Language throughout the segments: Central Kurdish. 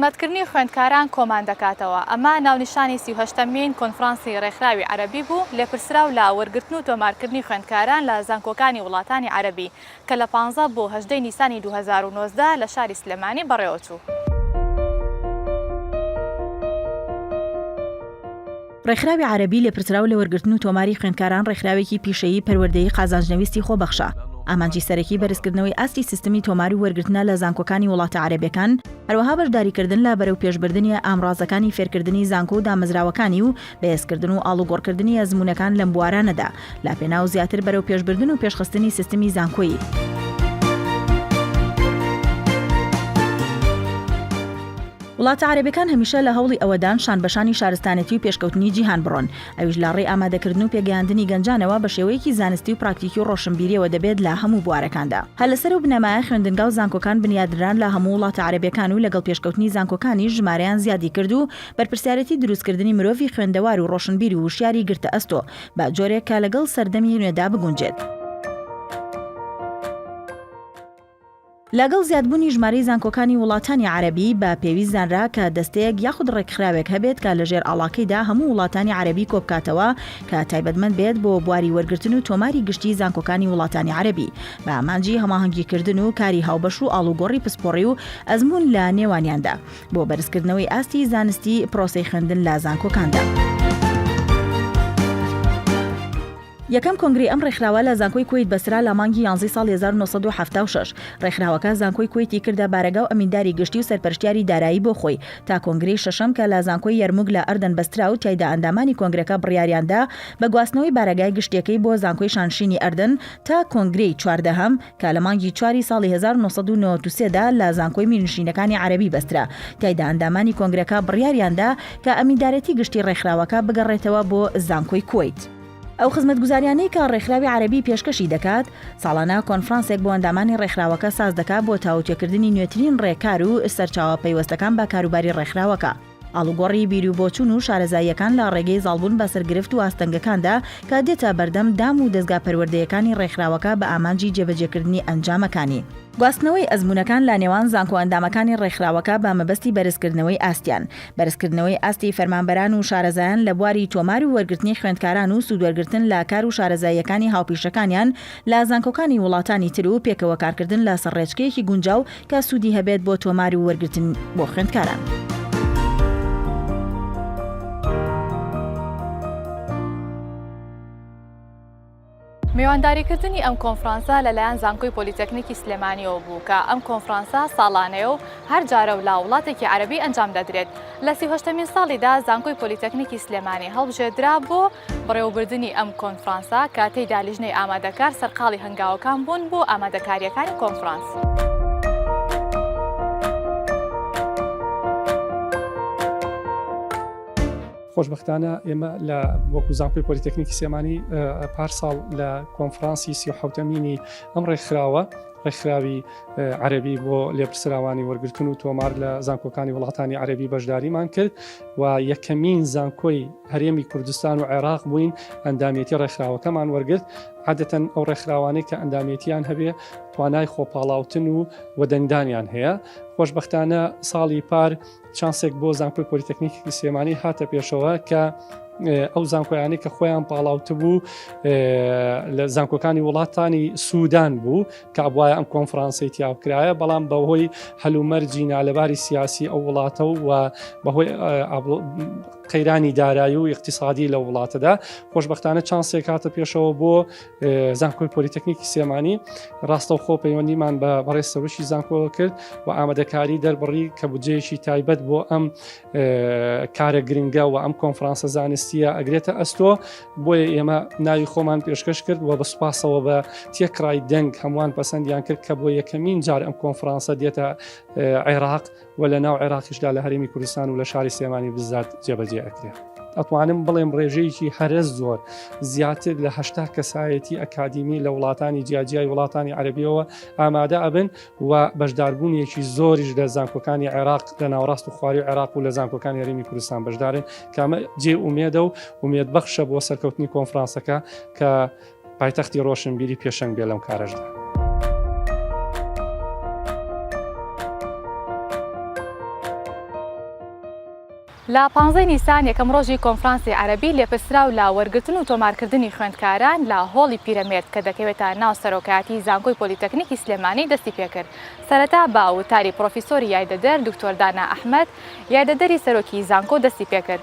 خزمەتکردنی خوێندکاران کۆمان دەکاتەوە. ئەمە ناونیشانی سی و هەشتەمین کۆنفرانسی رێکخراوی عەرەبی بوو، لێپرسراو لە وەرگرتن و تۆمارکردنی خوێندکاران لە زانکۆکانی وڵاتانی عەرەبی، کە لە پانزە بۆ هەژدەی نیسانی دوو هەزار و نۆزدە لە شاری سلێمانی بەڕێوەچوو. ڕێکخراوی عارەبی لێپرسراو لە وەرگرتن و تۆماری خوێندکاران ڕێکخراوێکی پیشەیی پەروەردەیی قازانجنەویستی خۆبەخشە، ئامانجی سەرەکی بەرزکردنەوەی ئاستی سیستمی تۆمار و وەرگرتنە لە زانکۆکانی وڵاتە عارەبیەکان، هەروەها بەشداریکردن لە بەرەوپێشبردنی ئامڕازەکانی فێرکردنی زانکۆ و دامەزراوەکانی و بەهێزکردن و ئاڵوگۆڕکردنی ئەزموونەکان لەم بوارانەدا. لەپێناو زیاتر بەرەوپێشبردن و پێشخستنی سیستمی زانکۆیی. وڵاتە عربەکان هەمیشە لە هەوڵی ئەوەدان شان بەشانی شارستانەتی و پێشکەوتنی جیهان بڕۆن ئەویش لە ڕێ ئامادەکردن و پێگەیاندنی گەنجانەوە بە شێوەیەکی زانستی و پراکتیکی و ڕۆشنبیریەوە دەبێت لە هەموو بوارەکاندا هە لەسەر و بنەمایە خوێندنگا و زانکۆکان بنیادران لە هەموو وڵاتە عربەکان و لەگەڵ پێشکەوتنی زانکۆکانی ژمارەیان زیادی کرد و بەرپرسیارەتی دروستکردنی مرۆڤی خوێندەوار و ڕۆشنبیر و وشیاری گرتە ئەستۆ بە جۆرێک کە لەگەڵ سەردەمی نوێدا بگونجێت. لەگەڵ زیادبوونی ژمارەی زانکۆکانی وڵاتانی عەرەبی، بە پێویست زانرا کە دەستەیەک یاخود ڕێکخراوێک هەبێت کە لە ژێر ئاڵاکەیدا هەموو وڵاتانی عەرەبی کۆبکاتەوە کە تایبەتمەند بێت بۆ بواری وەرگرتن و تۆماری گشتی زانکۆکانی وڵاتانی عەرەبی بە ئامانجی هەماهەنگیکردن و کاری هاوبەش و ئاڵوگۆڕی پسپۆڕی و ئەزموون لە نێوانیاندا. بۆ بەرزکردنەوەی ئاستی زانستی پرۆسەی خوێندن لە زانکۆکاندا. یەکەم کۆنگرەی ئەم ڕێکخراوە لە زانکۆی کوەیت بەسرا لە مانگی یانزەی ساڵی هەزار و نۆ سەد و حەفتا و شەش ڕێکخراوەکە زانکۆی کوەیتی کردە بارەگا و ئەمینداری گشتی و سەرپەرشتیاری دارایی بۆ خۆی تا کۆنگرەی شەشەم کە لە زانکۆی یەرموگ لە ئەردەن بەسترا و تیایدا ئەندامانی کۆنگرەکە بڕیاریان دا بە گواستنەوەی بارەگای گشتیەکەی بۆ زانکۆی شانشینی ئەردەن تا کۆنگرەی چواردەهەم کە لە مانگی چواری ساڵی هەزار و نۆ سەد و نەوەد و سێ دا لە زانکۆی میرنشینەکانی عەرەبی بەسترا، تیایدا ئەندامانی کۆنگرەکە بڕیاریان دا کە ئەمیندارێتی گشتی ڕێکخراوەکە بگەڕێتەوە بۆ زانکۆی کوەیت. ئەو خزمەتگوزاریانەی کە ڕێکخراوی عەرەبی پێشکەشی دەکات، ساڵانە کۆنفرانسێک بۆ ئەندامانی ڕێکخراوەکە ساز دەکات بۆ تاوتوێکردنی نوێترین ڕێکار و سەرچاوە پەیوەستەکان بە کاروباری ڕێکخراوەکە. ئاڵوگۆڕی بیروبۆچوون و شارەزاییەکان لە ڕێگەی زاڵبوون بەسەر گرفت و ئاستەنگەکاندا کە دێتە بەردەم دام و دەزگا پەروەردەیەکانی ڕێکخراوەکە بە ئامانجی جێبەجێکردنی ئەنجامەکانی. گواستنەوەی ئەزموونەکان لە نێوان زانکۆ ئەندامەکانی ڕێکخراوەکە بە مەبەستی بەرزکردنەوەی ئاستیان. بەرزکردنەوەی ئاستی فەرمانبەران و شارەزایان لە بواری تۆمار و وەرگرتنی خوێندکاران و سوودوەرگرتن لە کار و شارەزاییەکانی هاوپیشەکانیان لە زانکۆکانی وڵاتانی تر و پێکەوەکارکردن لەسەر ڕێچکەیەکی گونجاو کە سوودی هەبێت بۆ تۆمار و وەرگرتن بۆ خوێندکاران. میوانداریکردنی ئەم کۆنفرانسە لەلایەن زانکۆی پۆلیتەکنیکی سلێمانیەوە بوو کە ئەم کۆنفرانسە ساڵانەیە و هەر جارە و لا وڵاتێکی عەرەبی ئەنجام دەدرێت لە سیهشتمین ساڵیدا زانکۆی پۆلیتەکنیکی سلێمانی هەڵبژێدرا بۆ بەڕێوەبردنی ئەم کۆنفرانسە کە تێیدا لیژنەی ئامادەکار سەرقاڵی هەنگاوەکان بوون بۆ ئامادەکارییەکانی کۆنفرانس. خۆشبەختانە ئێمە لە وەکو زانکۆی پۆلیتەکنیکی سێمانی پارساڵ لە کۆنفرانسی سی و حوتەمینی ئەم ڕێکخراوە ڕێکخراوی عەربی بۆ لێپرسراوانی وەرگتن و تۆمار لە زانکۆکانی وڵاتانی عەربی بەشداریمان کرد و یەکەمین زانکۆی هەرێمی کوردستان و عێراق بووین ئەندامێتی ڕێکخراوەکەمان وەرگرت عادەتەن ئەو ڕێکخراوانەی کە ئەندامێتیان هەبێ توانای خۆپاڵاوتن و وەدەنگدانیان هەیە خۆشببختانە ساڵی پار چانسێک بۆ زانکۆی پۆلیتەکنیکی سلێمانی هاتە پێشەوە کە ئەو زانکۆیانی کە خۆیان پاڵاوت بوو لە زانکۆکانی وڵاتانی سوودان بوو کابواە ئەم کۆنفرانسی تیاکرایە بەڵام بەهۆی هەلومەرجی نالەباری سیاسی ئەو وڵاتە و بەهۆی قەیرانی دارایی و اقتصادی لە وڵاتەدا خۆشببختانە چانسێک هاتە پێشەوە بۆ زانکۆی پۆلیتەکنیکی سێمانی ڕاستە و خۆ پەیوەندیمان بە بەڕێ سەرشی زانکۆ کرد و ئامادەکاری دەربڕی کە بجێشی تایبەت بۆ ئەم کارە گرنگە و ئەم کۆنفرانسە زانستیە ئەگرێتە ئەستۆ بۆیە ئێمە ناوی خۆمان پێشکەش کرد و بە سوپاسەوە بە تێکڕای دەنگ هەمووان پەسەندیان کرد کە بۆ یەکەمین جار ئەم کۆنفرانسە دێتە عێراق و لە ناو عێراقیشدا لە هەرێمی کوردستان و لە شاری سلێمانی بزات جێبەجێ ئەکرێت. ئەتوانم بڵێم ڕێژەیەکی هەرە زۆر زیاتر لە هەشتا کەسایەتی ئەکادیمی لە وڵاتانی جیاجیای وڵاتانی عەربیەوە ئامادە ئەبن و بەشداربوونیەکی زۆریش لە زانکۆکانی عێراق لە ناوڕاست و خواری عێراق و لە زانکۆکانی هەرمی کوردستان بەشدارن کامە جێ ئومێدە و ئومێد بەخشە بۆ سەرکەوتنی کۆنفرانسەکە کە پایتەختی ڕۆشنبیری پێشەنگ بێ لەم کارەشدا. لە پانزەی نیسان یەکەم ڕۆژی کۆنفرانسی عەرەبی لێپرسراو لە وەرگرتن و تۆمارکردنی خوێندکاران لە هۆڵی پیرەمێرد کە دەکەوێتە ناو سەرۆکایەتی زانکۆی پۆلیتەکنیکی سلێمانی دەستی پێکرد سەرەتا بە وتاری پرۆفیسۆری یایدەدەر دکتۆر دانا ئەحمەد یایدەدەری سەرۆکی زانکۆ دەستی پێکرد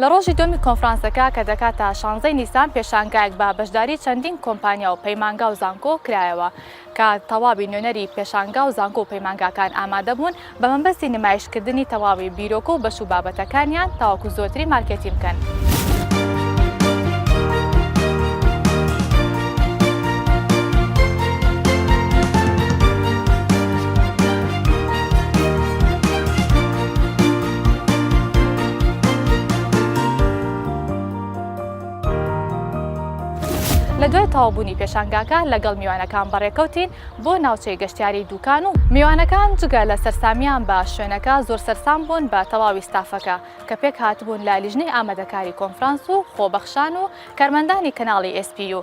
لە ڕۆژی دووەمی کۆنفرانسەکە کە دەکات تا شانزەی نیسان پێشانگایەک بە بەشداری چەندین کۆمپانیا و پەیمانگا و زانکۆ کرایەوە کە تەواوی نوێنەری پێشانگا و زانکۆ و پەیمانگاکان ئامادەبوون بە مەبەستی نمایشکردنی تەواوی بیرۆکە و بەش و بابەتەکانیان تاوەکو زۆرتری مارکێتین بکەن. لە دوای تەوابوونی پێشانگاکە لەگەڵ میوانەکان بەڕێکەوتین بۆ ناوچەی گەشتیاری دوکان و میوانەکان جگە لە سەرسامیان بە شوێنەکە زۆر سەرسام بوون بە تەواوی ستافەکە کە پێک هاتبوون لە لیژنەی ئامادەکاری کۆنفرانس و خۆبەخشان و کارمەندانی کەناڵی ئێس پی یو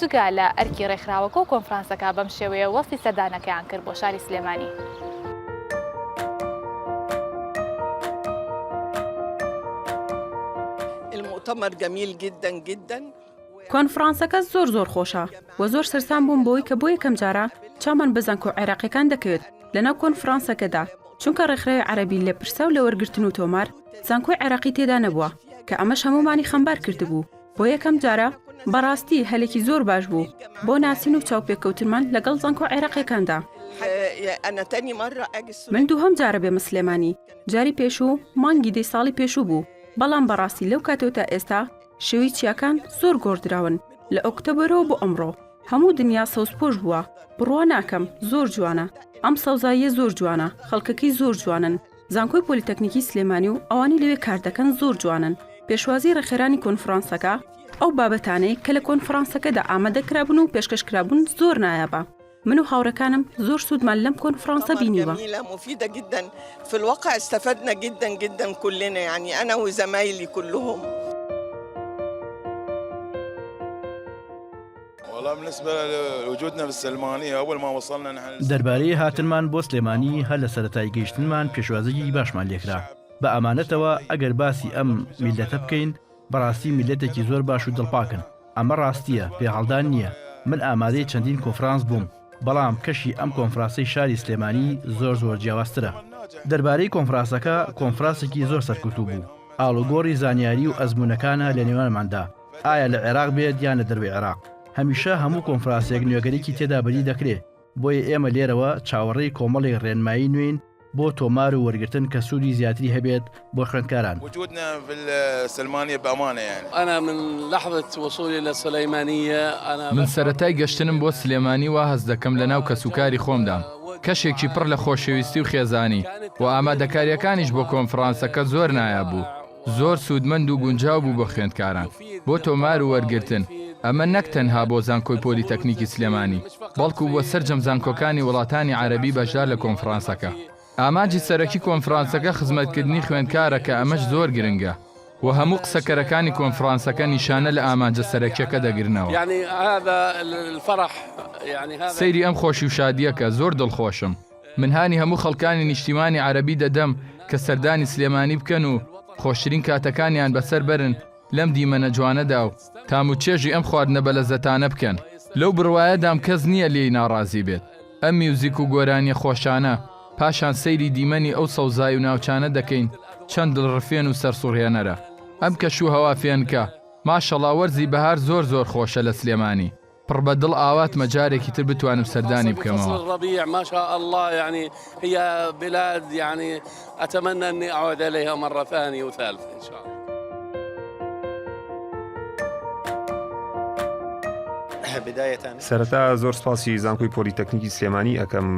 جگە لە ئەرکی ڕێکخراوەکە و کۆنفرانسەکە بەم شێوەیە وەسفی سەردانەکەیان کرد بۆ شاری سلێمانی. المؤتمر جميل جدا جدا کۆنفڕانسەکە زۆر زۆر خۆشە و زۆر سەرسام بووم بۆی کە بۆ یەکەم جارە چامان بە زانکۆ عێراقیەکان دەکەوێت لەناو کۆنفڕانسەکەدا چونکە ڕێکخراوی عەربی لە پرسە و لە وەرگرتن و تۆمار زانکۆی عێراقی تێدا نەبووە کە ئەمەش هەموومانی خەمبار کردبوو بۆ یەکەم جارە بەڕاستی هەلێکی زۆر باش بوو بۆ ناسین و چاوپێکەوتنمان لەگەڵ زانکۆ عێراقیەکاندا. من دووهەم جارە بێمە سلێمانی، جاری پێشوو مانگی دەی ساڵی پێشوو بوو، بەڵام بەڕاستی لەو کاتەوە تا ئێستا شێوەی چیاکان زۆر گۆڕدراون لە ئۆکتەبەرەوە بۆ ئەمڕۆ هەموو دنیا سەوزپۆش بووە، بڕوا ناکەم، زۆر جوانە ئەم سەوزاییە زۆر جوانە، خەڵکەکەی زۆر جوانن. زانکۆی پۆلیتەکنیکی سلێمانی و ئەوانەی لەوێ کار دەکەن زۆر جوانن پێشوازی ڕێخێرانی کۆنفرانسەکە ئەو بابەتانەی کە لە کۆنفرانسەکەدا ئامادە کرابوون و پێشکەش کرابوون زۆر نایابە من و هاوڕەکانم زۆر سوودمان لەم کۆنفرانسە بینیوە دەربارەی هاتنمان بۆ سلێمانی هەر لە سەرەتای گەیشتنمان پێشوازیی باشمان لێکرا بە ئەمانەتەوە ئەگەر باسی ئەم میللەتە بکەین بەڕاستی میللەتێکی زۆر باش و دڵپاکن ئەمە ڕاستییە پێهەڵدان نییە من ئامادەی چەندین کۆنفرانس بووم بەڵام کەشی ئەم کۆنفراسەی شاری سلێمانی زۆر زۆر جیاوازترە دەربارەی کۆنفراسەکە کۆنفراسێکی زۆر سەرکوتوو بوو ئاڵوگۆڕی زانیاری و ئەزموونەکانە لە نێوانماندا ئایا لە عێراق بێت یان لە دەروەی عێراق هەمیشە هەموو کۆنفراسێک نوێگەرێکی تێدا بەدی دەکرێ، بۆیە ئێمە لێرەوە چاوەڕێی کۆمەڵێک رێنمایی نوێین بۆ تۆمار و وەرگرتن کە سوودی زیاتری هەبێت بۆ خوێندکاران. من سەرەتای گەشتنم بۆ سلێمانی وا هەست دەکەم لە ناو کەسوکاری خۆمدام، کەشێکی پڕ لە خۆشەویستی و خێزانی، و ئامادەکارییەکانیش بۆ کۆنفرانسەکە زۆر نایاب بوو. زۆر سوودمەند و گونجاو بوو بۆ خوێندکاران بۆ تۆمار و وەرگرتن، ئەمە نەک تەنها بۆ زانکۆی پۆلیتەکنیکی سلێمانی، بەڵکو بۆ سەرجەم زانکۆکانی وڵاتانی عەرەبی بەشدار لە کۆنفرانسەکە. ئامانجی سەرەکی کۆنفرانسەکە خزمەتکردنی خوێندکارە کە ئەمەش زۆر گرنگە و هەموو قسەکەرەکانی کۆنفرانسەکە نیشانە لە ئامانجە سەرەکیەکە دەگرنەوە. سەیری ئەم خۆشی و شادییە کە، زۆر دڵخۆشم. من هانی هەموو خەڵکانی نیشتیمانی عەرەبی دەدەم کە سەردانی سلێمانی بکەن و خۆشترین کاتەکانیان بەسەر بەرن لەم دیمەنە جوانەدا و تام و چێژی ئەم خواردنە بەلەزەتانە بکەن. لەو بڕوایەدام کەس نییە لێی ناڕازی بێت، ئەم میوزیک و گۆرانییە خۆشانە، پاشان سەیری دیمەنی ئەو سەوزای و ناوچانە دەکەین چەند دڵڕفێن و سەرسوڕهێنەرە ئەم کەش و هەوا فێنکە، ماشەڵا وەرزی بەهار زۆر زۆر خۆشە لە سلێمانی. پڕ بە دڵ ئاواتمە جارێکی تر بتوانم سەردانی بکەمەوە. سەرەتا زۆر سپاسی زانکۆی پۆلیتەکنیکی سلێمانی ئەکەم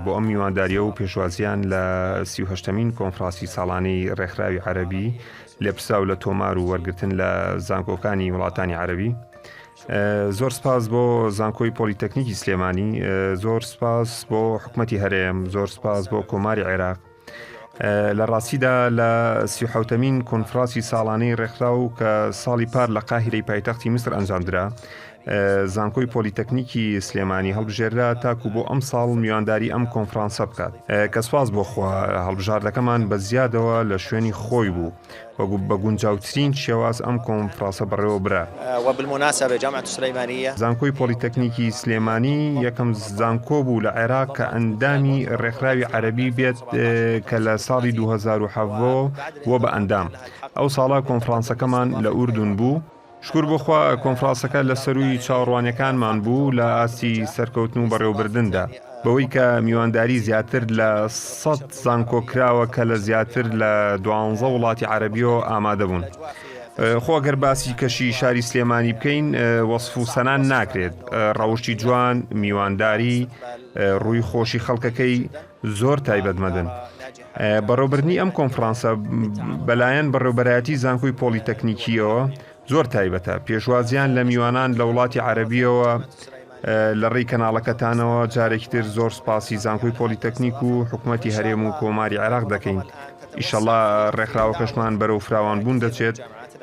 بۆ ئەم میوانداریە و پێشوازیان لە سیهشتمین کۆنفراسی ساڵانی ڕێکخراوی عەربی لێپساو لە تۆمار و وەرگتن لە زانکۆکانی وڵاتانی عەربی. زۆر سپاس بۆ زانکۆی پۆلیتەکنیکی سلێمانی زۆر سپاس بۆ حکومەتی هەرێم زۆر سپاس بۆ کۆماری عێراق لە ڕاستیدا لە سیحوتەمین کۆنفراسی ساڵانەی ڕێکخراو کە ساڵی پار لە قاهرەی پایتەختی میسر ئەنجامدرا زانکۆی پۆلیتەکنیکی سلێمانی هەڵبژێررا تاکو بۆ ئەم ساڵ میوانداری ئەم کۆنفرانسە بکات کە سواز بۆخوا هەڵبژاردەکەمان بە زیادەوە لە شوێنی خۆی بوو و بە گونجاوترین شێواز ئەم کۆنفڕاسە بەڕێوە برا. زانکۆی پۆلیتەکنیکی سلێمانی یەکەم زانکۆ بوو لە عێراق کە ئەندامی ڕێکخراوی عەرەبی بێت کە لە ساڵی دوو هەزار و حەڤۆ بووە بە ئەندام. ئەو ساڵە کۆنفڕانسەکەمان لە ئوردون بوو. شکور بۆ خوا کۆنفراسەکە لە سەرووی چاوەڕوانیەکانمان بوو لە ئاستی سەرکەوتن و بەڕێوەبردندا، بەوەی کە میوانداری زیاتر لە سەد زانکۆ کراوە کە لە زیاتر لە دوانزە وڵاتی عەرەبیۆ ئامادە بوون. خۆ ئەگەر باسی کەشی شاری سلێمانی بکەین وەسف و سەنا ناکرێت، ڕەوشتی جوان، میوانداری، ڕووی خۆشی خەڵکەکەی، زۆر تایبەتمەدن. بەڕێوەبردنی ئەم کۆنفرانسە بەلایەن بەڕێوبەرایەتی زانکۆی پۆڵی تەکنیکیەوە زۆر تایبەتە پێشوازیان لە میوانان لە وڵاتی عەربیەوە لە ڕێی کەناڵەکەتانەوە جارێکی تر زۆر سپاسی زانکۆی پۆلی تەکنیک و حکوومەتتی هەرێم و کۆماری عێراق دەکەین ئیشەڵا ڕێکخراوەکەشمان بەرەو فراوان بوون دەچێت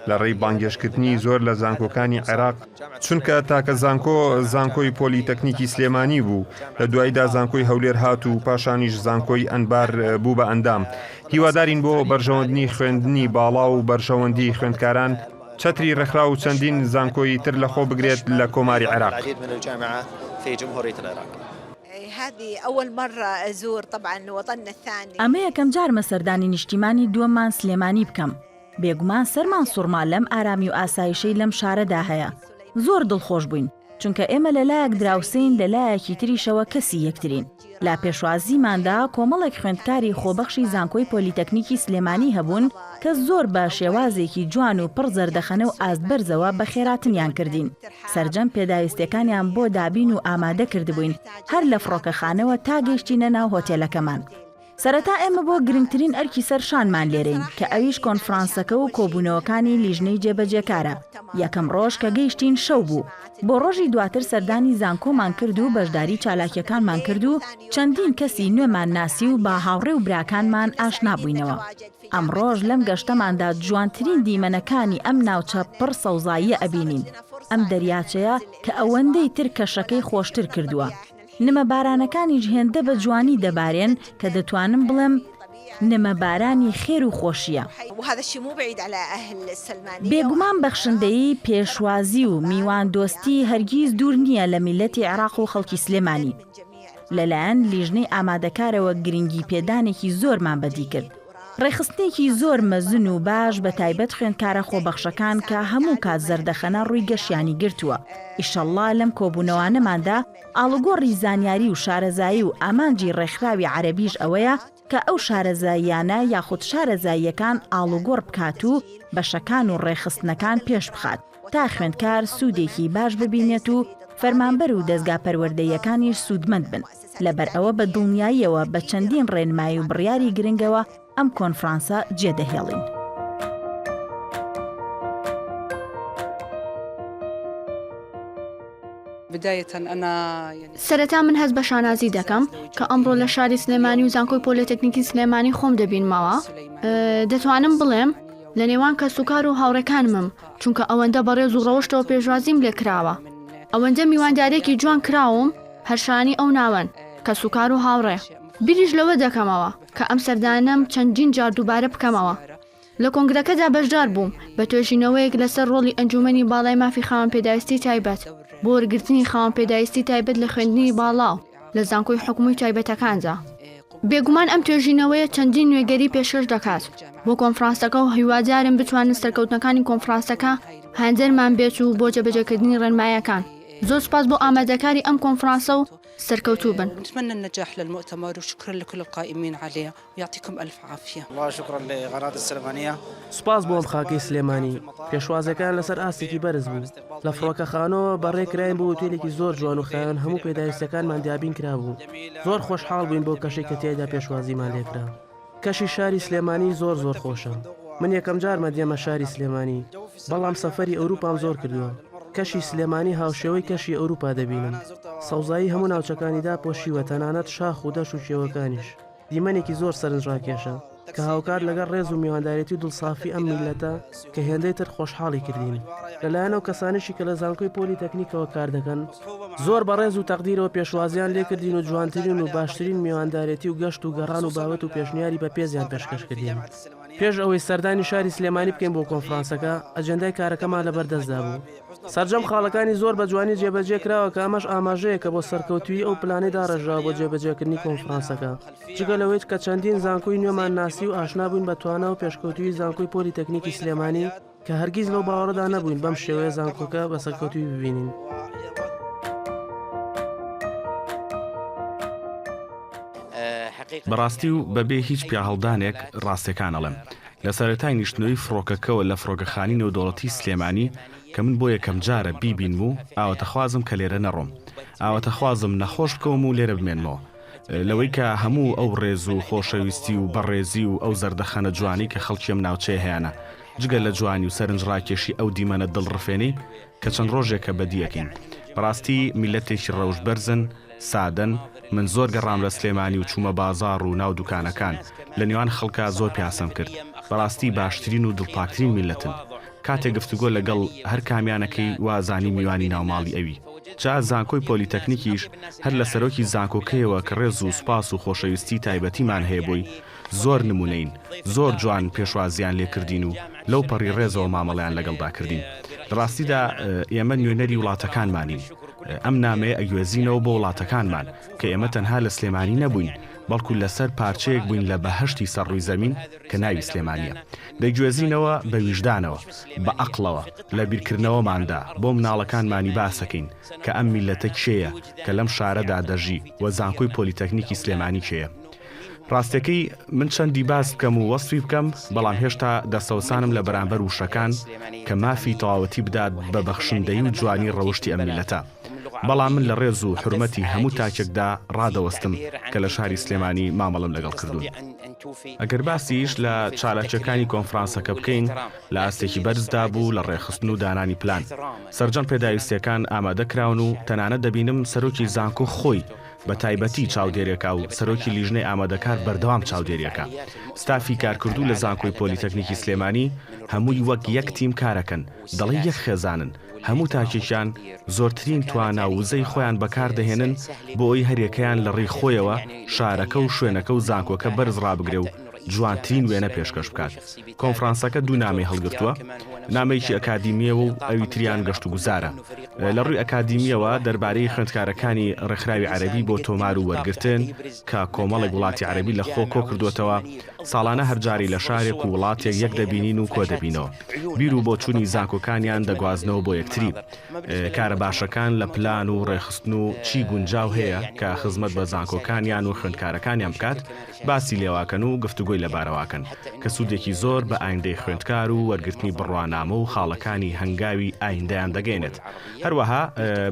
لە ڕێی بانگێشکردنی زۆر لە زانکۆکانی عێراق چونکە تاکە زانکۆ زانکۆی پۆلی تەکنیکی سلێمانی بوو لە دواییدا زانکۆی هەولێر هات و پاشانیش زانکۆی ئەنبار بوو بە ئەندام هیوادارین بۆ بەرژەوەندنی خوێندنی باڵا و بەرژەوەندی خوێندکاران چەتری ڕێکخراو و چەندین زانکۆیی تر لەخۆ بگرێت لە کۆماری عێراق. ئەمە یەکەم جارمە سەردانی نیشتیمانی دووەممان سلێمانی بکەم. بێگومان سەرمان سوڕما لەم ئارامی و ئاسایشەی لەم شارەدا هەیە. زۆر دڵخۆش بووین، چونکە ئێمە لە لایەک دراوسێین لە لایەکی تریشەوە کەسی یەکترین. لە پێشوازیماندا کۆمەڵێک خوێندکاری خۆبەخشی زانکۆی پۆلیتەکنیکی سلێمانی هەبوون کە زۆر بە شێوازێکی جوان و پڕ زەردەخەنە و ئاستبەرزەوە بەخێراتنیان کردین. سەرجەم پێداویستیەکانیان بۆ دابین و ئامادە کردبووین هەر لە فڕۆکەخانەوە تا گەیشتینە ناو هۆتێلەکەمان. سەرەتا ئێمە بۆ گرنگترین ئەرکی سەر شانمان لێرەین، کە ئەویش کۆنفرانسەکە و کۆبوونەوەکانی لیژنەی جێبەجێکارە. یەکەم ڕۆژ کە گەیشتین شەو بوو. بۆ ڕۆژی دواتر سەردانی زانکۆمان کرد و بەشداری چالاکییەکانمان کرد و چەندین کەسی نوێمان ناسی و بە هاوڕێ و براکانمان ئاشنا بووینەوە. ئەمڕۆش لەم گەشتەماندا جوانترین دیمەنەکانی ئەم ناوچە پڕ سەوزاییە ئەبینین. ئەم دەریاچەیە کە ئەوەندەی تر کەشەکەی خۆشتر کردووە. نمە بارانەکانیش هێندە بە جوانی دەبارێن کە دەتوانم بڵێم نمە بارانی خێر و خۆشییە. بێگومان بەخشندەیی، پێشوازی و میواندۆستی هەرگیز دوور نییە لە میللەتی عێراق و خەڵکی سلێمانی. لەلایەن لیژنەی ئامادەکارەوە گرنگیپێدانێکی زۆرمان بەدی کرد. ڕێکخستنێکی زۆر مەزن و باش بە تایبەت خوێندکارە خۆبەخشەکان کە هەموو کات زەردەخەنە ڕووی گەشیانی گرتووە ئیشەڵڵا لەم کۆبوونەوانەماندا ئاڵوگۆڕی زانیاری و شارەزایی و ئامانجی ڕێکخراوی عەرەبیش ئەوەیە کە ئەو شارەزاییانە یاخود شارەزاییەکان ئاڵوگۆڕ بکات و بەشەکان و ڕێکخستنەکان پێش بخات تا خوێندکار سوودێکی باش ببینێت و فەرمانبەر و دەزگا پەروەردەییەکانیش سوودمەند بن. لەبەرئەوە بە دڵنیاییەوە بە چەندین ڕێنمایی و بڕیاری گرنگەوە ئەم کۆنفرانسە جێدەهێڵین. سەرەتا من هەست بە شانازی دەکەم کە ئەمڕۆ لە شاری سلێمانی و زانکۆی پۆلێتەکنیکی سلێمانی خۆم دەبینمەوە دەتوانم بڵێم لە نێوان کە سوکار و هاوڕەکانمم چونکە ئەوەندە بەڕێز و ڕەوشتەوە پێشوازیم لێکراوە ئەوەندە میواندارێکی جوان کراوم هەر شایانی ئەو ناوەن، کەسوکار و هاوڕێ. بیریش لەوە دەکەمەوە، کە ئەم سەردانەم چەندین جار دووبارە بکەمەوە. لە کۆنگرەکەدا بەشدار بووم، بە توێژینەوەیەک لەسەر ڕۆڵی ئەنجوومەنی باڵای مافی خاوەن پێداویستی تایبەت، بۆ وەرگرتنی خاوەن پێداویستی تایبەت لە خوێندنی باڵا و لە زانکۆی حکومی و تایبەتەکاندا. بێگومان ئەم توێژینەوەیە چەندین نوێگەری پێشکەش دەکات بۆ کۆنفرانسەکە و هیوادارم بتوانن سەرکەوتنەکانی کۆنفرانسەکە هاندەرمان بێت و بۆ جێبەجێکردنی ڕێنمایەکان. زۆر سوپاس بۆ ئامادەکاری ئەم کۆنفرانسە و سەرکەوتوو بن. نتمنى النجاح للمؤتمر وشكرا لكل القائمين عليه ويعطيكم الف عافيه. والله شكرا لقناة السلمانية. سوپاس بۆ ئەم خاکەی سلێمانی. پێشوازیەکان لەسەر ئاستێکی بەرز بوو. لە فڕۆکەخانەوە بە ڕێ کراین بۆ ئوتێلێکی زۆر جوان و خاوێن هەموو پێداویستیەکانمان دابین کرابوو. زۆر خۆشحاڵ بووین بەو کەشەی کە تیایدا پێشوازیمان لێکرا. کەشی شاری سلێمانی زۆر زۆر خۆشە من یەکەم جارمە دێمە شاری سلێمانی بەڵام سەفەری ئەوروپام زۆر کردووە کەشی سلێمانی هاوشێوەی کەشی ئەوروپا دەبینم سەوزایی هەموو ناوچەکانی داپۆشیوە تەنانەت شاخ و دەش و کێوەکانیش دیمەنێکی زۆر سەرنج ڕاکێشە کە هاوکات لەگەڵ ڕێز و میواندارێتی و دڵسافی ئەم میللەتە کە هێندەی تر خۆشحاڵی کردین لەلایەن ئەو کەسانیشی کە لە زانکۆی پۆلی تەکنیکەوە کار دەکەن زۆر بە ڕێز و تەقدیرەوە پێشوازیان لێ کردین و جوانترین و باشترین میواندارێتی و گەشت و گەڕان و بابەت و پێشنیاری بە پێزیان پێشکەش کردین پێش ئەوەی سەردانی شاری سلێمانی بکەین بۆ کۆنفرانسەکە ئەجێندای کارەکەمان لەبەردەستدا بوو سەرجەم خاڵەکانی زۆر بە جوانی جێبەجێ کراوە کە ئەمەش ئاماژەیەکە بۆ سەرکەوتوی ئەو پلانەی داڕێژراوە بۆ جێبەجێکردنی کۆنفرانسەکە جگە لەوەیت کە چەندین زانکۆی نوێمان ناسی و ئاشنا بووین بە توانا و پێشکەوتوویی زانکۆی پۆلی تەکنیکی سلێمانی کە هەرگیز لەو باوەڕەدا نەبووین بەم شێوەیە زانکۆکە بە سەرکەوتووی ببینین. بەڕاستی و بە بێ هیچ پیاهەڵدانێک ڕاستیەکان ئەڵێم. لە سەرەتای نیشتنەوەی فڕۆکەکەوە لە فڕۆکەخانی نێودەوڵەتی سلێمانی کە من بۆ یەکەم جارە بیبینم و ئاوەتەخوازم کە لێرە نەڕۆم. ئاوەتەخوازم نەخۆش بکەوم و لێرە بمێنمەوە. لەوەی کە هەموو ئەو ڕێز و خۆشەویستی و بەڕێزی و ئەو زەردەخەنە جوانەی کە خەڵکی ئەم ناوچەیە هەیانە، جگە لە جوانی و سەرنجڕاکێشی ئەو دیمەنە دڵڕفێنەی کە چەند ڕۆژێکە بەدی ئەکەین. بەڕاستی میللەتێکی ڕەوشت بەرزن، سادەن، من زۆر گەڕام لە سلێمانی و چوومە بازاڕ و ناو دوکانەکان، لە نێوان خەڵکا زۆر پیاسەم کرد، بەڕاستی باشترین و دڵپاکترین میللەتن. کاتێ گفتوگۆ لەگەڵ هەر کامیان ئەکەی وا ئەزانی میوانی ناوماڵی ئەوی. جا زانکۆی پۆلیتەکنیکیش هەر لە سەرۆکی زانکۆکەیەوە کە ڕێز و سوپاس و خۆشەویستی تایبەتیمان هەیە بۆی، زۆر نمونەین، زۆر جوان پێشوازییان لێ کردین و لەو پەڕی ڕێزەوە مامەڵەیان لەگەڵدا کردین. لە ڕاستیدا ئێمە نوێنەری وڵاتەکانمانین، ئەم نامەیە ئەگوێزینەوە بۆ وڵاتەکانمان کە ئێمە تەنها لە سلێمانی نەبووین، بەڵکو لەسەر پارچەیەک بووین لە بەهەشتی سەر ڕووی زەمین کە ناوی سلێمانییە. دەیگوێزینەوە بە ویژدانەوە، بە ئەقڵەوە، لە بیرکردنەوەماندا بۆ مناڵەکانمانی باسەکەین کە ئەم میللەتە کێیە کە لەم شارەدا دەژی و زانکۆی پۆلیتەکنیکی سلێمانی کێیە. ڕاستەکەی من چەندی باس بکەم و وەسفی بکەم بەڵام هێشتا دەستەوسانم لە بەرامبەر وشەکان کە مافی تەواوەتی بدات بە بەخشندەیی و جوانی ڕەوشتی ئەم میللەتە. بەڵام من لە ڕێز و حورمەتی هەموو تاکێکدا ڕادەوەستم کە لە شاری سلێمانی مامەڵەم لەگەڵ کردوون. ئەگەر باسیش لە چالاکییەکانی کۆنفرانسەکە بکەین، لە ئاستێکی بەرزدا بوو لە ڕێکخستن و دانانی پلان. سەرجەم پێداویستییەکان ئامادە کراون و تەنانەت دەبینم سەرۆکی زانکۆ خۆی بە تایبەتی چاودێرێکە و سەرۆکی لیژنەی ئامادەکار بەردەوام چاودێرییەکە. ستافی کارکردوو لە زانکۆی پۆلیتەکنیکی سلێمانی هەمووی وەک یەک تیم کارەکەن، دەڵێی یەک خێزانن. هەموو تاکێکیان زۆرترین توانا و وزەی خۆیان بەکار دەهێنن بۆ ئەوی هەریەکەیان لە ڕێی خۆیەوە شارەکە و شوێنەکە و زانکۆکە بەرز ڕابگرێ و جوانترین وێنە پێشکەش بکات کۆنفرانسەکە دوو نامەی هەڵگرتووە نامەیەکی ئەکادیمیەوە و ئەوی تریان گەشت و گوزارە لە ڕووی ئەکادیمیەوە دەربارەی خوێندکارەکانی ڕێکخراوی عەرەبی بۆ تۆمار و وەرگرتن کە کۆمەڵێک وڵاتی عەرەبی لە خۆ کۆ کردووەتەوە ساڵانە هەرجاری لە شارێک و وڵاتێک یەک دەبینین و کۆدەبینەوە. بیر و بۆچونی زاکۆکانیان دەگوازنەوە بۆ یەکتری. کارە باشەکان لە پلان و ڕێخستن و چی گونجاو هەیە کە خزمەت بە زانکۆکانیان و خوێندکارەکانیان بکات باسی لێواکەن و گفتوگۆی لەبارەواکەن کە سودێکی زۆر بە ئایندەی خوێندکار و وەرگرتنی بڕوانامە و خاڵەکانی هەنگاوی ئایندەیان دەگەینێت. هەروەها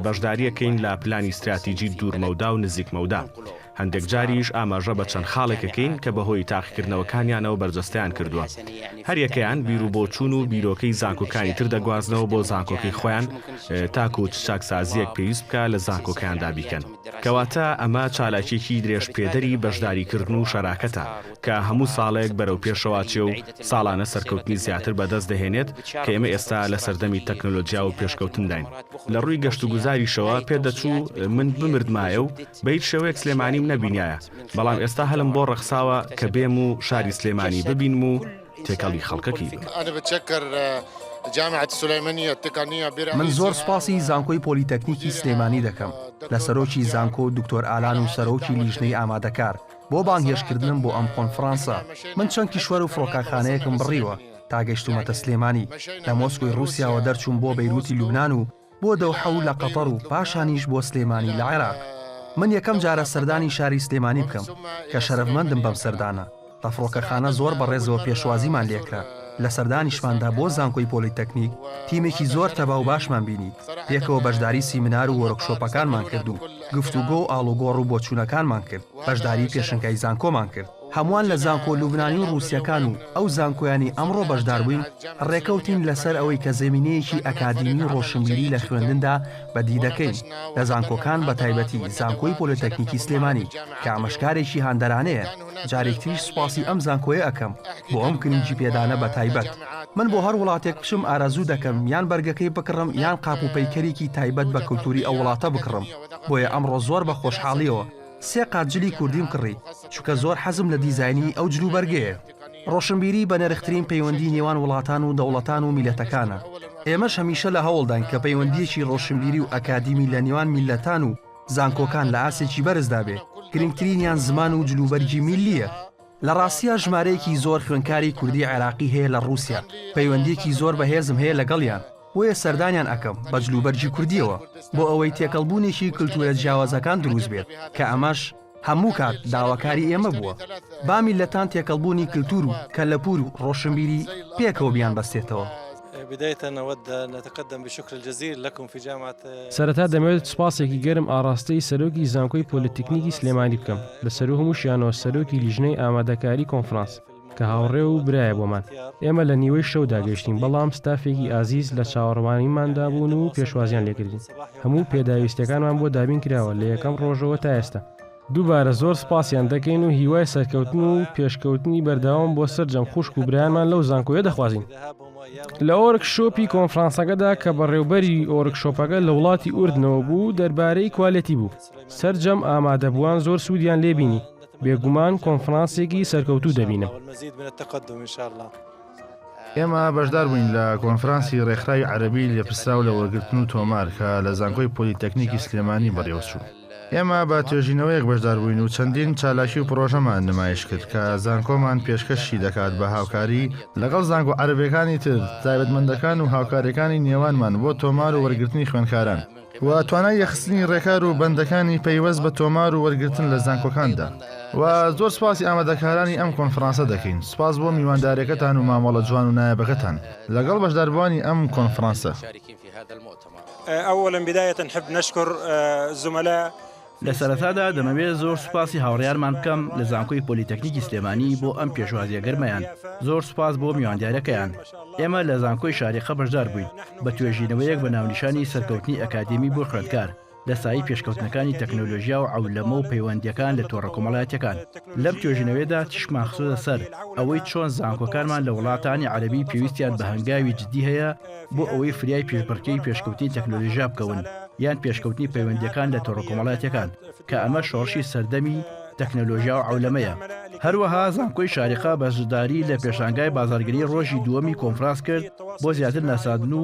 بەشداریەکەین لە پلانی ستراتیجی دوورمەودا و نزیکمەودا. هەندێک جاریش ئاماژە بە چەند خاڵێک ئەکەین کە بەهۆی تاقیکردنەوەکانیانەوە بەرجەستەیان کردووە. هەر یەکەیان بیروبۆچوون و بیرۆکەی زانکۆکانی تر دەگوازنەوە بۆ زانکۆکەی خۆیان تاکوو چ چاکسازییەک پێویست بکا لە زانکۆکەیاندا بیکەن. کەواتە ئەمە چالاکییەکی درێژپێدەری بەشداریکردن و شەراکەتە کە هەموو ساڵێک بەرەو پێشەوە ئەچێ و ساڵانە سەرکەوتنی زیاتر بەدەست دەهێنێت، کە ئێمە ئێستا لە سەردەمی تەکنەلۆجیا و پێشکەوتنداین. لە ڕووی گەشتوگوزاریشەوە پێ دەچوو من بمردمایە و بە هیچ شێوەیەک سلێمانیم نەبینیایە، بەڵام ئێستا هەلم بۆ ڕەخساوە کە بێم و شاری سلێمانی ببینم و تێکەڵی خەڵکەکەی بم. من زۆر سوپاسی زانکۆی پۆلیتەکنیکی سلێمانی دەکەم، لە سەرۆکی زانکۆ دکتۆر ئالان و سەرۆکی لیژنەی ئامادەکار، بۆ بانگهێشتکردنم بۆ ئەم کۆنفڕانسە، من چەند کیشوەر و فڕۆکەخانەیەکم بڕیوە تا گەیشتوومەتە سلێمانی، لە مۆسکۆی ڕووسیاوە دەرچووم بۆ بەیرووتی لوبنان و بۆ دەوحە و لە قەتەڕ و پاشانیش بۆ سلێمانی لە عێراق. من یەکەم جارە سەردانی شاری سلێمانی بکەم، کە شەرەفمەندم بەم سەردانە. لە فڕۆکەخانە زۆر بە ڕێزەوە پێشوازیمان لێکرا، لە سەردانیشماندا بۆ زانکۆی پۆلیتەکنیک تیمێکی زۆر تەبا و باشمان بینی، پێکەوە بەشداری سیمینار و وۆرکشۆپەکانمان کرد و، گفتوگۆ و ئاڵوگۆڕ و بۆچوونەکانمان کرد، بەشداریی پێشەنگای زانکۆمان کرد، هەمووان لە زانکۆ لوبنانی و ڕووسییەکان و ئەو زانکۆیانەی ئەمڕۆ بەشداربووین ڕێکەوتین لەسەر ئەوەی کە زەمینەیەکی ئەکادیمی و ڕۆشنبیری لە خوێندندا بەدی دەکەین لە زانکۆکان بەتایبەتی زانکۆی پۆلێتەکنیکی سلێمانی کە ئامشکارێکی هاندەرانەیە جارێک تریش سوپاسی ئەم زانکۆیە ئەکەم بۆ ئەم گرنگی پێدانە بە تایبەت من بۆ هەر وڵاتێک بچم ئارەزوو دەکەم یان بەرگەکەی بکڕم یان قاپ و پەیکەرێکی تایبەت بە کلتوری ئەو وڵاتە بکڕم بۆیە ئەمڕۆ زۆر بە خۆشحاڵیەوە سێ قات جلی کوردیم کڕی چونکە زۆر حەزم لە دیزاینی ئەو جل و بەرگەیە ڕۆشنبیری بە نرخترین پەیوەندی نێوان وڵاتان و دەوڵەتان و میلەتەکانە ئێمەش هەمیشە لە هەوڵداین کە پەیوەندیەکی ڕۆشنبیری و ئەکادیمی لە نێوان میلەتان و زانکۆکان لە ئاستێکی بەرزدا بێ، گرنگترینیان زمان و جلوبەرگی میللییە. لە ڕاستیا ژمارەیەکی زۆر خوێندکاری کوردی عێراقی هەیە لە ڕووسیا، پەیوەندییەکی زۆر بەهێزم هەیە لەگەڵیان، بۆیە سەردانیان ئەکەم بە جلوبەرگی کوردییەوە، بۆ ئەوەی تێکەڵبوونێکی کلتوورە جیاوازەکان درووست بێت، کە ئەمەش هەموو کات داواکاری ئێمە بووە، با میللەتان تێکەڵبوونی کلتوور و کەلەپوور و ڕۆشنبیری پێکەوە بیانبەستێتەوە. بداية نود ان نتقدم بشكر الجزيل لكم في جامعة. سەرەتا دەمەوێت سوپاسێکی گەرم ئاڕاستەی سەرۆکی زانکۆی پۆلیتیکنیکی سلێمانی بکەم، لەسەروو هەمووشیانەوە سەرۆکی لیژنەی ئامادەکاری کۆنفرانس، کە هاوڕێ و برایە بۆمان. ئێمە لە نیوەی شەودا گەیشتین، بەڵام ستافێکی ئازیز لە چاوەڕوانیماندا بوون و پێشوازیان لێکردین. هەموو پێداویستییەکانمان بۆ دابین کراوە، لە یەکەم ڕۆژەوە تا ئێستا. دووبارە زۆر سپاسیان دەکەین و هیوای سەرکەوتن و پێشکەوتنی بەردەوام بۆ سەرجەم خوشک و برایانمان لەو زانکۆیە دەخوازین لە ئۆرک شۆپی کۆنفرانسەکەدا کە بەڕێوبەری ئۆرک شۆپەکە لە وڵاتی ئوردنەوە بوو دەربارەی کوالەتی بوو سەررجەم ئامادەبووان زۆر سوودیان لێبینی بێگومان کۆنفرانسێکی سەرکەوتوو دەبینم. ئێمە بەشدار بووین لە کۆنفرانسی ڕێکخراوی عەربی لێپرسراو لە وەرگرتن و تۆمار کە لە زانکۆی پۆلیتەکنیکی سلێمانی بەڕێوەچوو. ئێمە بە توێژینەوەیەک بەشداربووین و چەندین چالاکی و پڕۆژەمان نمایش کرد کە زانکۆمان پێشکەشی دەکات بە هاوکاری لەگەڵ زانکۆ عەرەبیەکانی تر، تایبەتمەندەکان و هاوکاریەکانی نێوانمان بۆ تۆمار و وەرگرتنی خوێندکاران و توانای یەخستنی ڕێکار و بەندەکانی پەیوەست بە تۆمار و وەرگرتن لە زانکۆکاندا و زۆر سپاسی ئامادەکارانی ئەم کۆنفڕانسە دەکەین، سپاس بۆ میوانداریەکەتان و مامەڵە جوان و نایابەکەتان لەگەڵ بەشداربووانی ئەم کۆنفڕانسە. ئەوەلەن بیدایەتەن حب نەشکور زومەلا. لە سەرەتادا دەمەوێت زۆر سوپاسی هاوڕێیانمان بکەم لە زانکۆی پۆلیتەکنیکی سلێمانی بۆ ئەم پێشوازیە گەرمەیان زۆر سوپاس بۆ میواندارەکەیان ئێمە لە زانکۆی شاریقە بەشدار بووین بە توێژینەوەیەک بە ناونیشانی سەرکەوتنی ئەکادێمی بۆ خوێندکار لە سایەی پێشکەوتنەکانی تەکنەلۆژیا و عەولەمە و پەیوەندییەکان لە تۆڕە کۆمەڵایەتیەکان لەم توێژینەوەیەدا چشمان خستۆتە سەر ئەوەی چۆن زانکۆکانمان لە وڵاتانی عەرەبی پێویستیان بە هەنگاوی جدی هەیە بۆ ئەوەی فریای پیشبڕکێی پێشکەوتنی تەکنەلۆژیا بکەون یان پێشکەوتنی پەیوەندیەکان لە تۆڕە کۆمەڵاتیەکان کە ئەمە شۆڕشی سەردەمی تەکنەلۆژیا و عولەمەیە هەروەها زانکۆی شارقا بەشداری لە پێشانگای بازارگری ڕۆژی دووەمی کۆنفراس کرد بۆ زیاتر ناسادن و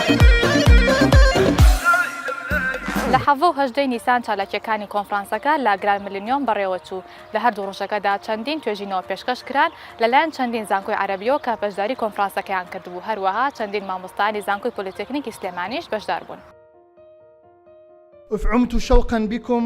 لە حەڤە و هەژدەی نیسان چالاکییەکانی کۆنفرانسەکە لە گراند ملینیۆم بەڕێوەچوو، لە هەردوو ڕۆژەکەدا چەندین توێژینەوە پێشکەش کران لەلایەن چەندین زانکۆی عەرەبییەوە کە بەشداری کۆنفرانسەکەیان کردبوو، هەروەها چەندین مامۆستایانی زانکۆی پۆلیتەکنیکی سلێمانیش بەشداربوون. اف عمت شوقا بکم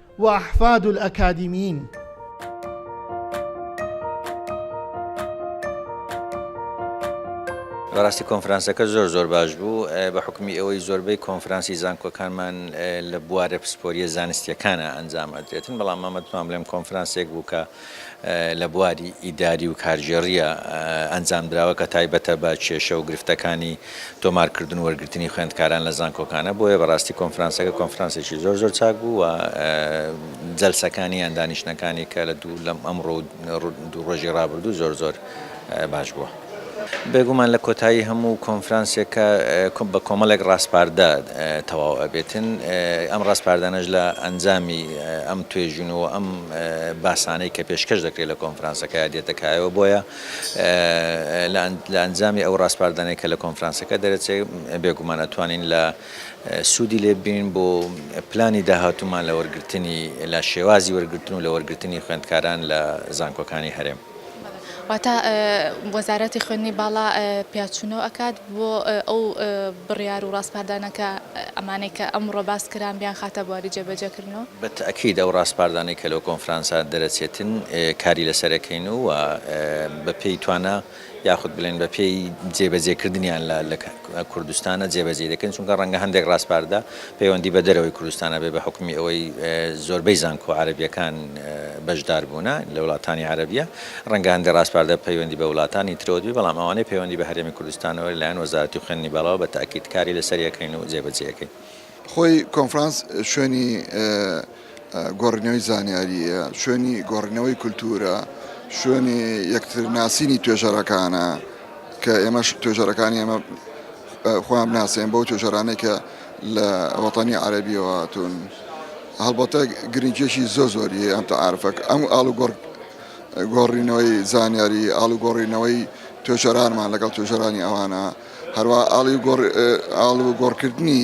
وأحفاد الأكاديميين. بەڕاستی کۆنفرانسەکە زۆر زۆر باش بوو بە حکمی ئەوەی زۆربەی کۆنفرانسی زانکۆکانمان لە بوارە پسپۆریە زانستیەکانە ئەنجام ئەدرێتن بەڵام مامەتمام لەم کۆنفرانسێک بوو کە لە بواری ئیداری و کارگێڕییە ئەنجامدراوە کە تایبەتە بە کێشە و گرفتەکانی تۆمارکردن و وەرگرتنی خوێندکاران لە زانکۆکانە، بۆیە بەڕاستی کۆنفرانسەکە کۆنفرانسێکی زۆر زۆر چاک بوو و جەلسەکانی یان دانیشتنەکانی کە لە دوو لەم ئەمڕۆ و دوو ڕۆژی ڕابردوو زۆر زۆر باش بووە. بێگومان لە کۆتایی هەموو کۆنفرانسێکە بە کۆمەڵێک ڕاسپاردە تەواو ئەبێتن، ئەم ڕاسپاردانەش لە ئەنجامی ئەم توێژینو و ئەم باسانەی کە پێشکەش دەکرێت لە کۆنفرانسەکە دێتە کایەوە، بۆیە لە ئەنجامی ئەو ڕاسپاردانەی کە لە کۆنفرانسەکە دەرەچێت بێگومان ئەتوانین لە سوودی لێ ببینین بۆ پلانی داهاتوومان لە وەرگرتنی لە شێوازی وەرگرتن و لە وەرگرتنی خوێندکاران لە زانکۆکانی هەرێم. واتە وەزارەتی خوێندنی باڵا پیاچوونەوە ئەکات بۆ ئەو بڕیار و ڕاسپاردانە کە ئەمانەی کە ئەمڕۆ باس کران بیانخاتە بواری جێبەجێکردنەوە؟ بە تەئکید ئەو ڕاسپاردانەی کە لەو کۆنفرانسە دەرەچێتن کاری لەسەر ئەکەین و بە پێی توانا یاخود بڵێن بە پێی جێبەجێکردنیان لە کوردستانە جێبەجێی دەکەین چونکە ڕەنگە هەندێک ڕاسپاردە پەیوەندی بە دەرەوەی کوردستان ئەبێ بە حوکمی ئەوەی زۆربەی زانکۆ عەرەبیەکان بەشدار بوونە لە وڵاتانی عەرەبیە ڕەنگە هەندێ ڕاسپاردە پەیوەندی بە وڵاتانی ترەوە بێ بەڵام ئەوانەی پەیوەندی بە هەرێمی کوردستانەوە لەلایەن وەزارەتی خوێندنی باڵاوە بە تەئکید کاری لەسەر ئەکەین و جێبەجێ ئەکەین. خۆی کۆنفرانس شوێنی گۆڕینەوەی زانیارییە، شوێنی گۆڕینەوەی کولتوورە، شوێنی یەکتر ناسینی توێژەرەکانە کە ئێمەش توێژەرەکانی ئێمە خۆیان بناسێن بەو توێژەرانەی کە لە وەتانی عەربیەوە هاتوون هەڵبەتە گرنگێکی زۆ زۆری ئەم تەعاعرفەک ئەم ئاڵوگۆڕ گۆڕینەوەی زانیاری ئاڵوگۆڕینەوەی توێژەرانمان لەگەڵ توێژەرانی ئەوانە هەروە ئاڵی گۆڕ ئاڵوگۆڕکردنی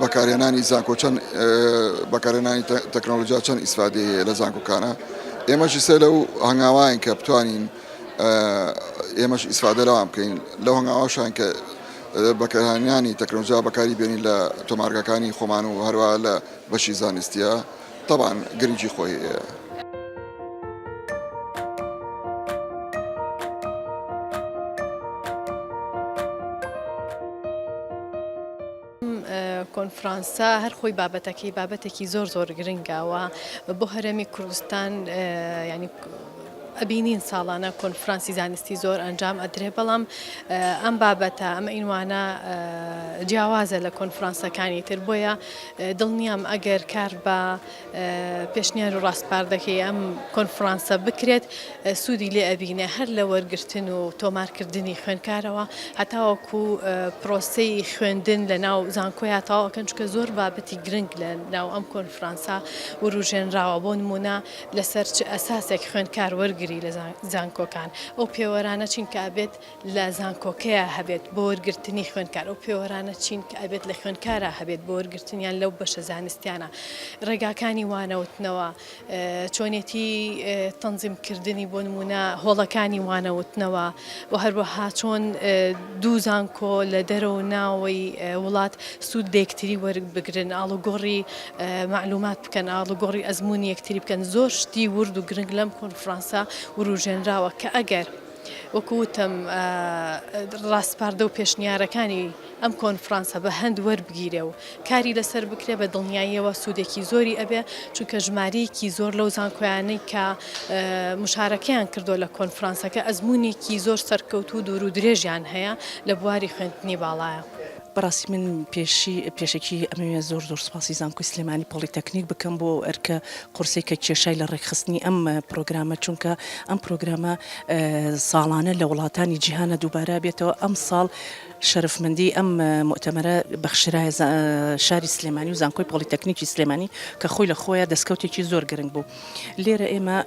بەکارهێنانی زانکۆ چەند بەکارهێنانی تەکنۆلۆژیا چەند ئیسفادەیە هەیە لە زانکۆکانە ئێمەشی سەر لەو هەنگاوایان کە بتوانین ئێمەش ئیسفادە لەوان بکەین لەو هەنگاواشان کە بەکارهێنانی تەکنۆلۆژیا بەکاری بێنین لە تۆمارگەکانی خۆمان و هەروە لە بەشی زانستیە. تەبعەن گرنگی خۆی. ئەم کۆنفرانسە هەر خۆی بابەتەکەی بابەتێکی زۆر زۆر گرنگاوە بۆ هەرێمی کوردستان ینی ئەبینین ساڵانە کۆنفرانسی زانستی زۆر ئەنجام ئەدرێ بەڵام ئەم بابەتە ئەمە ئینوانە جیاوازە لە کۆنفرانسەکانی تر بۆیە دڵنیام ئەگەر کار بە پێشنیار و ڕاسپاردەکەی ئەم کۆنفرانسە بکرێت سوودی لێ ئەبینێ هەر لە وەرگرتن و تۆمارکردنی خوێنکارەوە هەتاوەکو پرۆسەی خوێندن لە ناو زانکۆیا تاواکەن چکە زۆر بابەتی گرنگ لە ناو ئەم کۆنفرانسە وروژێنراوە بۆ نمونە لەسەر چ ئەساسێک خوێنکار وەرگری لە زانکۆکان ئەو پێوەرانە چین کە ئەبێت لە زانکۆکەیا هەبێت بۆ وەرگرتنی خوێندکار، ئەو پێوەرانە چین کە ئەبێت لە خوێندکارا هەبێت بۆ وەرگرتنیان لەو بەشە زانستیانە، ڕێگاکانی وانەوتنەوە، چۆنێتی تەنزیم کردنی بۆ نموونە هۆڵەکانی وانەوتنەوە و هەروەها چۆن دوو زانکۆ لە دەرە و ناوەی وڵات سوود لە یەکتری وەربگرن، ئاڵوگۆڕی مەعلومات بکەن، ئاڵوگۆڕی ئەزموونی یەکتری بکەن، زۆر شتی ورد و گرنگ لەم کۆنفرانسە وروژێنراوە کە ئەگەر. وەکو وتم ڕاسپاردە و پێشنیارەکانی ئەم کۆنفرانسە بە هەند وەربگیرێ و کاری لەسەر بکرێ بە دڵنیاییەوە سوودێکی زۆری ئەبێ چونکە ژمارەیەکی زۆر لەو زانکۆیانەی کە مشارەکەیان کردو لە کۆنفرانسەکە ئەزمونێکی زۆر سەرکەوتوو دوور و درێژیان هەیە لە بواری خوێندنی باڵایە. بەڕاستی من پێشی پێشەکی ئەمەوێ زۆر زۆر سوپاسی زانکۆی سلێمانی پۆڵیتەکنیک بکەم بۆ ئەو ئەرکە قورسەی کە کێشای لە ڕێکخستنی ئەم پرۆگرامە چونکە ئەم پرۆگرامە ساڵانە لە وڵاتانی جیهانە دووبارە بێتەوە ئەم ساڵ شەرفمەندی ئەم مؤتەمەرە بەخشرایە شاری سلێمانی و زانکۆی پۆڵیتەکنیکی سلێمانی کە خۆی لە خۆیان دەستکەوتێکی زۆر گرنگ بوو. لێرە ئێمە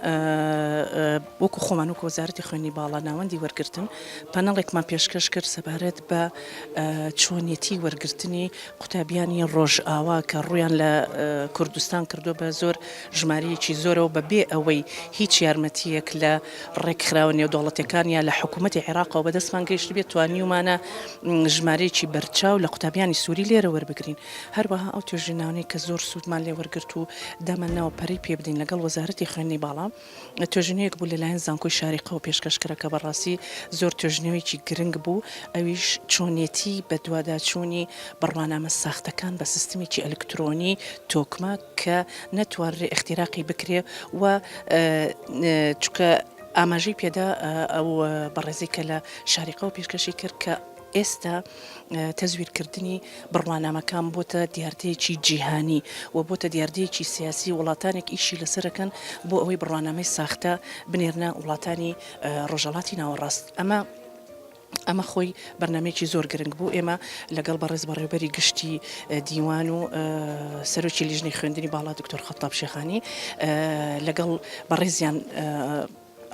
وەکو خۆمان وەکو وەزارەتی خوێنی باڵا ناوەندی وەرگتن پەنەڵێکمان پێشکەش کرد سەبارەت بە چۆنیەتی وەرگرتنی قوتابیانی ڕۆژئاوا کە ڕویان لە کوردستان کردو بە زۆر ژمارەیەکی زۆرەوە بە بێ ئەوەی هیچ یارمەتیەک لە ڕێکخراوە نێودوڵەتەکان یا لە حکوومەتتی عێراقەوە بەدەستمان گەیشت بێت توانیومانە ژمارەیەکی بەرچاو لە قوتابیانی سووری لێرە وەربگرین هەروەها ئەو توێژینانەی کە زۆر سوودمان لێ وەرگرت و دامان ناوە پەرەی پێ بدەین لەگەڵ وەزارەتی خوێندنی باڵا، توێژینەوەیەک بوو لەلایەن زانکۆی شاریقەوە پێشکەش کرا کە بەڕاستی زۆر توێژینەوەیەکی گرنگ بوو، ئەویش چۆنێتی بەدواداچوونی بڕوانامە ساختەکان بە سیستمێکی ئەلکترۆنی تۆکمە کە نەتوانرێ ئیختیراقی بکرێ و چونکە ئاماژەی پێدا ئەو بەڕێزەی کە لە شاریقەوە پێشکەشی کرد کە. ئێستا تەزویرکردنی بڕوانامەکان بۆتە دیاردەیەکی جیهانی و بۆتە دیاردەیەکی سیاسی، وڵاتانێک ئیشی لەسەرەکەن بۆ ئەوەی بڕوانامەی ساختە بنێرنە وڵاتانی ڕۆژەڵاتی ناوەڕاست، ئەمە ئەمە خۆی بەرنامەیەکی زۆر گرنگ بوو، ئێمە لەگەڵ بەڕێز بەڕێوبەری گشتی دیوان و سەرۆکی لیژنەی خوێندنی باڵا دکتۆر خەتاب شێخانی لەگەڵ بەڕێزیان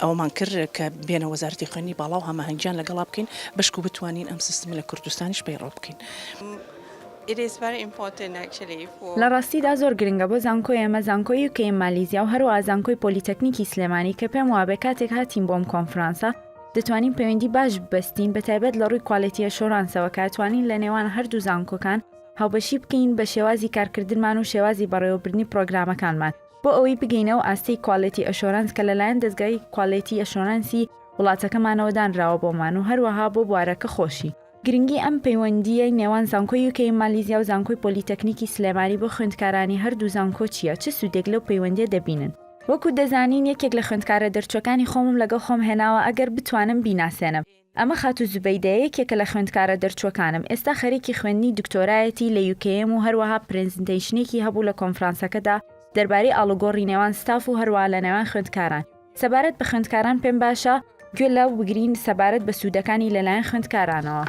ئەوەمان کرد کە بێنە وەزارەتی خوێندنی باڵا و هەماهەنگیان لەگەڵا بکەین بەشکو بتوانین ئەم سیستمە لە کوردستانیش پەیڕەو بکەین. لە ڕاستیدا زۆر گرنگە بۆ زانکۆی ئێمە، زانکۆی یو کەی مالیزیا و هەروەها زانکۆی پۆلیتەکنیکی سلێمانی کە پێم وابێ کاتێک هاتین بۆ ئەم کۆنفرانسە دەتوانین پەیوەندی باش ببەستین بە تایبەت لە ڕووی کوالێتی ئەشۆرانسەوە کە ئەتوانین لە نێوان هەر دوو زانکۆکان هاوبەشی بکەین بە شێوازی کارکردنمان و شێوازی بەڕێوەبردنی پڕۆگرامەکانمان بۆ ئەوەی بگەینە ئەو ئاستەی کوالێتی ئەشۆرەنس کە لەلایەن دەزگای کوالێتی ئەشۆرەنسی وڵاتەکەمانەوە دانراوە بۆمان و هەروەها بۆ بوارەکە خۆشی. گرنگی ئەم پەیوەندییەی نێوان زانکۆی یوکێی مالیزیا و زانکۆی پۆلیتەکنیکی سلێمانی بۆ خوێندکارانی هەردوو زانکۆ چییە؟ چ سوودێک لەو پەیوەندییە دەبینن؟ وەکو دەزانین یەکێک لە خوێندکارە دەرچووەکانی خۆمم لەگەڵ خۆم هێناوە ئەگەر بتوانم بیناسێنم. ئەمە خاتوو زوبەیدە یەکێکە لە خوێندکارە دەرچووەکانم، ئێستا خەریکی خوێندنی دکتۆرایەتی لە یوکێم و هەروەها پرێزنتەیشنێکی هەبوو لە کۆنفرانسەکەدا دەربارەی ئاڵوگۆڕی نێوان ستاف و هەروەها لە نێوان خوێندکاران سەبارەت بە خوێندکاران پێم باشە گوێ لەو بگرین سەبارەت بە سوودەکانی لەلایەن خوێندکارانەوە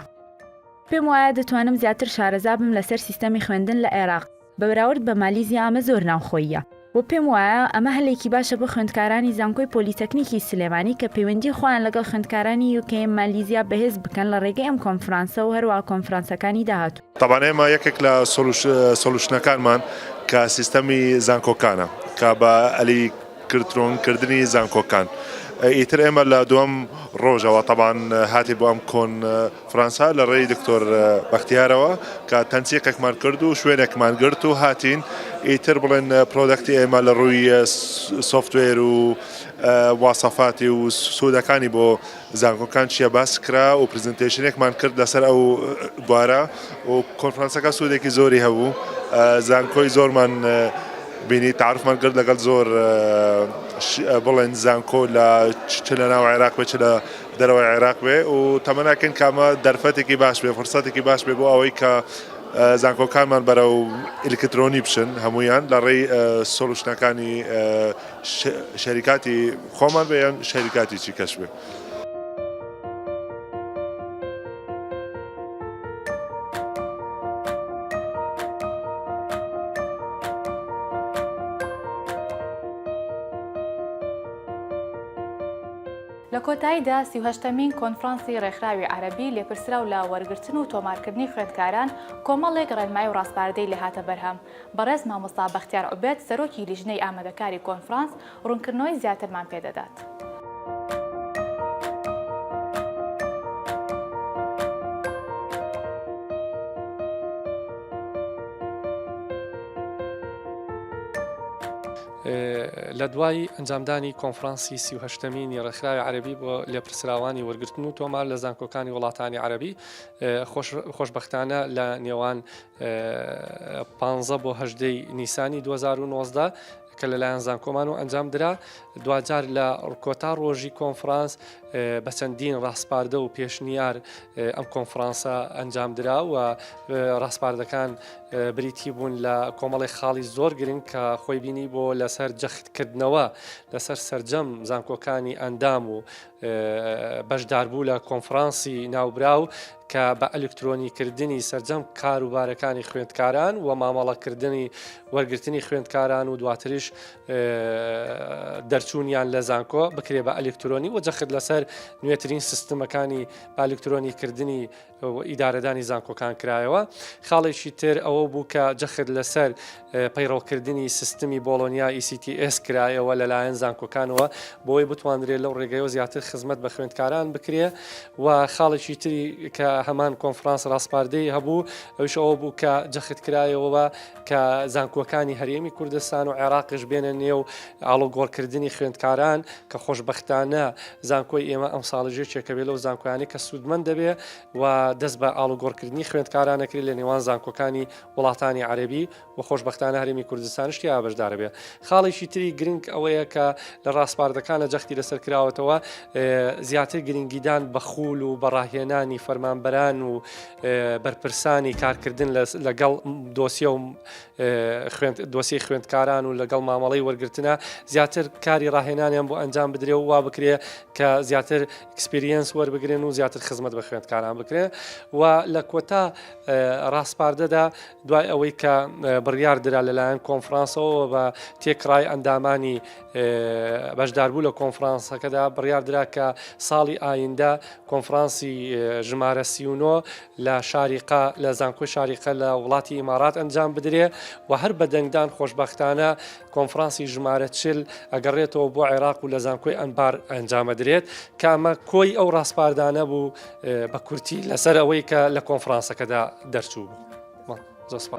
پێم وایە دەتوانم زیاتر شارەزا بم لەسەر سیستەمی خوێندن لە عێراق. بە بەراورد بە مالیزیا ئەمە زۆر ناوخۆییە و پێم وایە ئەمە هەلێکی باشە بۆ خوێندکارانی زانکۆی پۆلیتەکنیکی سلێمانی کە پەیوەندی خۆیان لەگەڵ خوێندکارانی یوکەیەم مالیزیا بەهێز بکەن لە ڕێگەی ئەم کۆنفرانسە و هەروەها کۆنفرانسەکانی داهاتوو. تەبعەن ئێمە یەکێک لە سۆلوشنەکانمان کە سیستەمی زانکۆکانە کە بە ئەلی کرترۆن کردنی زانکۆکان ئیتر ئێمە لە دوم ڕۆژەوە تەبان هاتی بۆ ئەم کۆن فرانسا لە ڕێی دکتۆر بەختیارەوە کە تەنسیقێکمان کرد و شوێنێکمان گرت و هاتین ئیتر بڵێن پرۆدەکتی ئێمە لە ڕووی سوفتوێر و واسەفاتی و سوودەکانی بۆ زانکۆکان چیە باس کرا و پرزنتەیشنێکمان کرد لەسەر ئەو بوارە و کۆنفرانسەکە سوودێکی زۆری هەبوو زانکۆی زۆرمان بینی تعرفمان کرد لەگەڵ زۆر بڵێن زانکۆ لە چ لە ناو عێراق بێ چ لە دەرەوەی عێراق بێ و تەمەناکەن کامە دەرفەتێکی باش بێ فرسەتێکی باش بێ بۆ ئەوەی کە زانکۆکانمان بەرە و ئلکترۆنی بچن هەمویان لە ڕێی سۆلوشنەکانی شەریکاتی خۆمان بێ یان شەریکاتیی کەش بێ. لە کۆتاییدا سی و هەشتەمین کۆنفرانسی ڕێکخراوی عەرەبی لێپرسراو لە وەرگرتن و تۆمارکردنی خوێندکاران کۆمەڵێک ڕێنمایی و ڕاسپاردەی لێهاتە بەرهەم، بەڕێز مامۆستا بەختیار عوبێد سەرۆکی لیژنەی ئامادەکاری کۆنفرانس ڕوونکردنەوەی زیاترمان پێ دەدات. لە دوای ئەنجامدانی کۆنفرانسی سی و هەشتەمینی ڕێکخراوی عەربی بۆ لێپرسراوانی وەرگرتن و تۆمار لە زانکۆکانی وڵاتانی عەربی خۆشببختانە لە نێوان پ بۆ هەدەی نیسانی 2019 کە لەلایەن زانکۆمانەوە ئەنجام درا دواجار لە ڕکۆتا ڕۆژی کۆنفرانس بە چەندین ڕاسپاردە و پێشنیار ئەم کۆنفرانسە ئەنجام درا و ڕاسپاردەکان بریتی بوون لە کۆمەڵی خاڵی زۆر گرنگ کە خۆی بینی بۆ لەسەر جەختکردنەوە لەسەر سرجەم زانکۆکانی ئەندام و بەشداربوو لە کۆنفرانسی ناوبراو کە بە ئەلکترۆنی کردنی سەرجەم کاروبارەکانی خوێندکاران و مامەڵەکردنی وەرگرتنی خوێندکاران و دواتریش دەرچوونیان لە زانکۆ بکرێ بە ئەلکترۆنی و جەخت لەسەر نوێترین سیستمەکانی ئەلکترۆنی کردنی ئیدارەدانی زانکۆکان کرایەوە خاڵێکی تر ئەوە بوو کە جەخت لەسەر پەیڕەوکردنی سیستمی بۆڵۆنیا ECTS کرایەوە لەلایەن زانکۆکانەوە بۆی بتواندرێت لەو ڕێگەیەوە زیاتر خزمەت بە خوێندکاران بکرێ و خاڵێکی تری کە هەمان کۆنفرانس ڕاسپاردەی هەبوو ئەوش ئەوە بوو کە جەخت کرایەوە کە زانکۆکانی هەرێمی کوردستان و عێراقش بێنە نێو ئاڵۆگۆڕکردنی خوێندکاران کە خۆشببختانە زانکۆی ئێمە ئەم ساڵژێکێکە بێ لەو زانکۆیانی کە سوودمەند دەبێ و دەست بە ئاڵوگۆڕکردنی خوێندکارانەکری لە نێوان زانکۆکانی وڵاتانی عەرەبی و خۆشبەختانە هەرێمی کوردستانش تیایا بەشدارە بێ خاڵێکی تری گرنگ ئەوەیە کە لە ڕاسپاردەکانە جەختی لەسەر کراوەتەوە زیاتر گرنگیدان بە خوول و بەڕاهێنانی فەرمانبەران و بەرپرسانی کارکردن لەگەڵ دۆسیە و دۆسی خوێندکاران و لەگەڵ مامەڵی وەرگتنە زیاتر کاری ڕاهێنانیان بۆ ئەنجام بدرێ و وا بکرێ کە زیاتر ئەکسپریەنس وەربگرن و زیاتر خزمەت بە خوێندکاران بکرێ و لە کۆتا ڕاسپاردەدا دوای ئەوەی کە بڕیار درا لەلایەن کۆنفرانسەوە بە تێکڕای ئەندامانی بەشداربوو لە کۆنفرانسەکەدا بڕیار درا کە ساڵی ئایندە کۆنفرانسی ژمارە سیونۆ لە شاریقا لە زانکۆی شاریقە لە وڵاتی ئیمارات ئەنجام بدرێ و هەر بەدەنگدان خۆشببختانە کۆنفرانسی ژمارە چل ئەگەڕێتەوە بۆ عێراق و لە زانکۆی ئەنبار ئەنجامەدرێت کامە کۆی ئەو ڕاسپاردانە بوو بە کورتی لەسەر ئەوەی کە لە کۆنفرانسەکەدا دەرچوو بوو. زۆسپا.